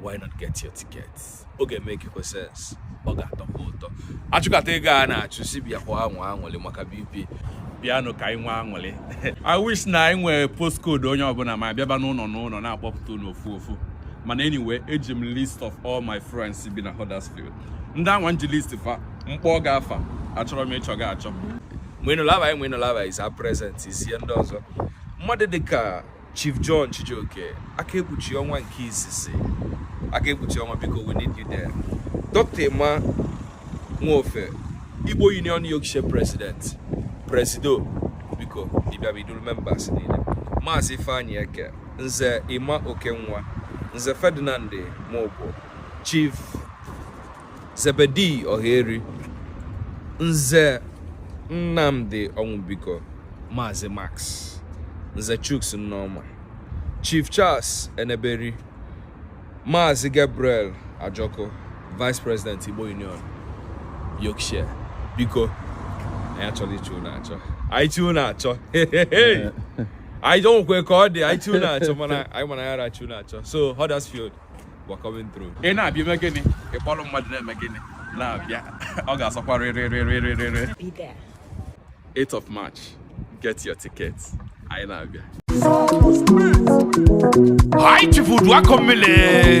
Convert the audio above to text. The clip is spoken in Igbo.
why not get your ticket ọ ga-emake kwa sense ọ ga-atọkwa ụtọ achụkata ego a na-achụ si bịa kwa anwụ anwụlị maka BP bịanụ ka anyị nwee anwụlị I wish na anyị nwee postcode onye ọbụla ma bịaba n'ụnọ n'ụnọ na-akpọpụta unu ofu ofu mana anyway eji m list of all my friends bi na Huddersfield ndị anwa m ji list fa m kpọga afa achọrọ m ịchọ gị achọ mgbe ịnụlaba anyị mgbe ịnụlaba is our present is ihe ndị ọzọ mmadụ dịka Chief John Chijioke aka ekpuchi ọnwa nke izizi aka ekpuchi ọnwa biko we need you there Dr. Emma Nwofe Igbo Union Yorkshire President Presido biko ị bịaba i duru members niile Maazị Ifeanyi Eke Nze Emma Okenwa Nze Ferdinand Mobo Chief Zebedee Ohaeri, Nze Nnamdi Onwubiko, Maazị Max, Nze Chuks Nneoma, Chief Charles Eneberi, Maazị Gabriel Ajoko, Vice President Igbo Union, Yorkshire. Biko, anyị achọrọ ịchọ unu achọ. Anyị chọ unu achọ, o nwekwa ka ọ dị, anyị chọ unu achọ mana anyị ma na anyị ara achọ unu achọ. So, Huddersfield. We're coming through. Ị na-abịa i mee gịnị? Ị kpọrọ mmadụ na-eme gịnị? Na-abịa. Ọ ga-asọkwa rịrịrịrịrịrị. Be there. 8th of March. Get your ticket. Anyị na-abịa. Hi, Chifu Dwakomile.